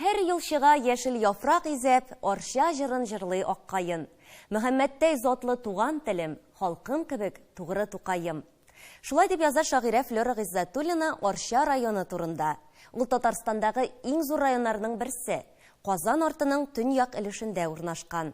Һәр ел чыга яшел яфрак изәп, Арча җырын җырлый ак каен. Мөхәммәттәй затлы туган телем, Халкым кебек тугры Тукаем. Шулай дип яза шагыйрә Флера Гыйззәтуллина Арча районы турында. Ул Татарстандагы иң зур районнарның берсе, Казан артының төньяк өлешендә урнашкан.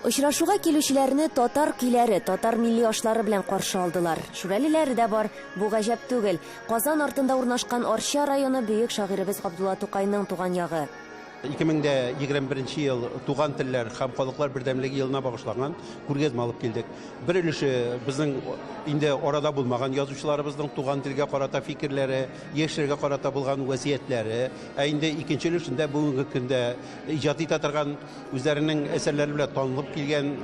Очрашуга килүчеләрне татар көйләре, татар милли ашлары белән каршы алдылар. Шүрәлеләре дә бар. Бу гаҗәп түгел. Казан артында урнашкан Арча районы бөек шагыйребез Габдулла Тукайның туган ягы. 2021 нче ел Туган телләр һәм халыклар бердәмлеге елына багышланган күргәзмә алып килдек. Бер өлеше безнең инде арада булмаган язучыларыбызның туган телгә карата фикерләре, яшьләргә карата булган вәсиятләре, ә инде икенче өлешендә бүгенге көндә иҗат итә торган, Үзләренең әсәрләре белән танылып килгән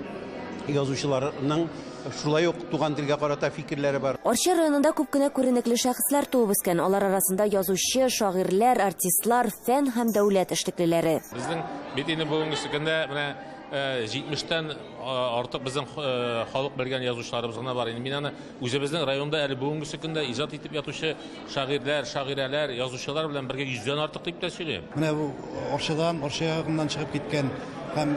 язучыларның шулай ук туган телгә карата фикерләре бар. Арча районында күп кенә күренекле шәхесләр туып үскән, алар арасында язучы, шагыйрьләр, артистлар, фән һәм дәүләт эшлеклеләре. Безнең бит инде бүгенге көндә менә 70 тән артык безнең халык белгән язучыларыбыз гына бар. Мин аны Үзебезнең районда әле бүгенгесе көндә иҗат итеп ятучы шагыйрьләр, шагыйрәләр, язучылар белән бергә йөздән артык дип тә сөйли. Менә бу Арчадан, Арча ягыннан чыгып киткән һәм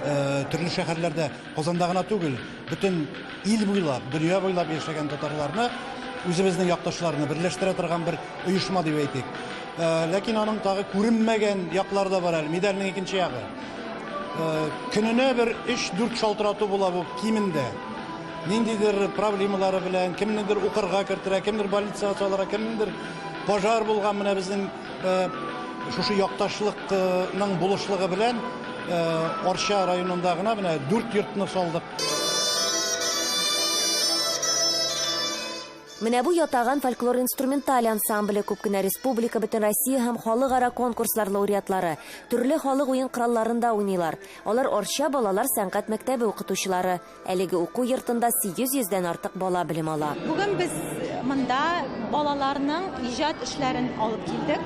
төрле шәһәрләрдә, Казанда гына түгел, бөтен ил буйлап, дөнья буйлап яшәгән татарларны, үзебезнең якташларны берләштерә торган бер оешма дип әйтик. Ләкин аның тагы күренмәгән яклары да бар әле, медальнең икенче ягы. Көненә бер 3-4 шалтырату була бу кимендә. Ниндидер проблемалары белән, кемнедер укырга керттерә, кемдер больницага салыра, кемнедер пожар булган менә безнең э, шушы якташлыкның булышлыгы белән э, Арча районында гына менә дүрт йортны салдык. Менә бу ятаган фольклор-инструменталь ансамбле күп кенә республика, бөтен Россия һәм халыкара конкурслар лауреатлары, төрле халык уен коралларында уйныйлар. Алар Арча балалар сәнгать мәктәбе укытучылары. Әлеге уку йортында 800 дән артык бала белем ала. Бүген без монда балаларның иҗат эшләрен алып килдек.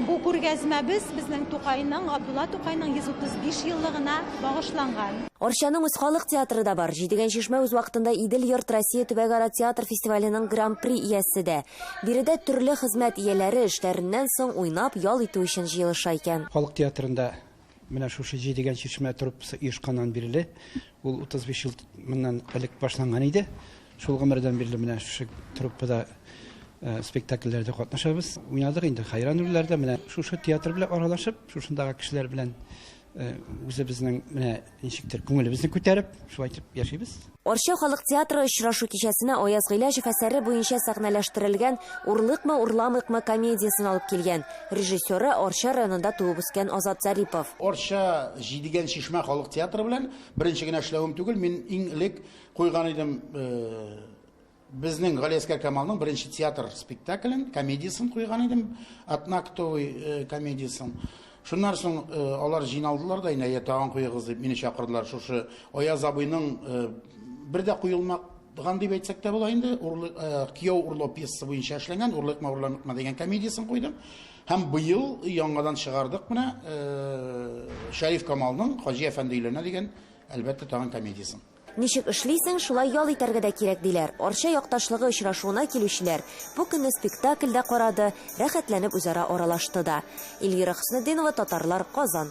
Бу күргәзмәбез безнең Тукайның, Габдулла Тукайның 135 еллыгына багышланган. Арчаның үз халык театры да бар. Җидегән чишмә үз вакытында Идел йорт Россия төбәгара театр фестиваленең гран-при иясе дә. Биредә төрле хезмәт ияләре эшләреннән соң уйнап, ял итү өчен җыелыша икән. Халык театрында Менә шушы җи дигән чишмә труппасы оешканнан бирле, ул 35 ел моннан элек башланган иде. Шул гомердән бирле менә шушы труппада э, спектакльләрдә катнашабыз. Уйнадык инде Хайран рольләрдә, менә шушы театр белән аралашып, шушындагы кешеләр белән э, үзебезнең менә ничектер күңелебезне күтәреп, шулай итеп яшибез. Арча халык театры очрашу кичәсенә Аяз Гыйләҗев әсәре буенча сәхнәләштерелгән Урлыкмы, урламыйкмы комедиясен алып килгән. Режиссеры, Арча районында туып үскән Азат Зарипов. Арча Җидегән чишмә халык театры белән беренче генә эшләвем түгел, мин иң элек куйган идем Безнең Галиәскәр Камалның беренче театр спектаклен, комедиясен куйган идем, Атнактовый э, комедиясен. Шуннан соң э, алар җыйналдылар да, инде тагын куегыз дип мине чакырдылар. Шушы Аяз абыйның э, бер дә куелмак Ган дип әйтсәк тә була инде, урлык э, кияү урлау пьесасы буенча эшләнгән, урлык маврланыкма дигән комедиясен куйдым. Һәм быел яңадан чыгардык менә э, Шәриф Камалның Хаҗи әфәнде өйләнә дигән әлбәттә тагын комедиясен. Ничек эшлисең, шулай ял итәргә дә кирәк, диләр. Арча якташлыгы очрашуына килүчеләр бу көнне спектакль дә карады, рәхәтләнеп үзара аралашты да. Эльвира Хөснетдинова, Татарлар, Казан.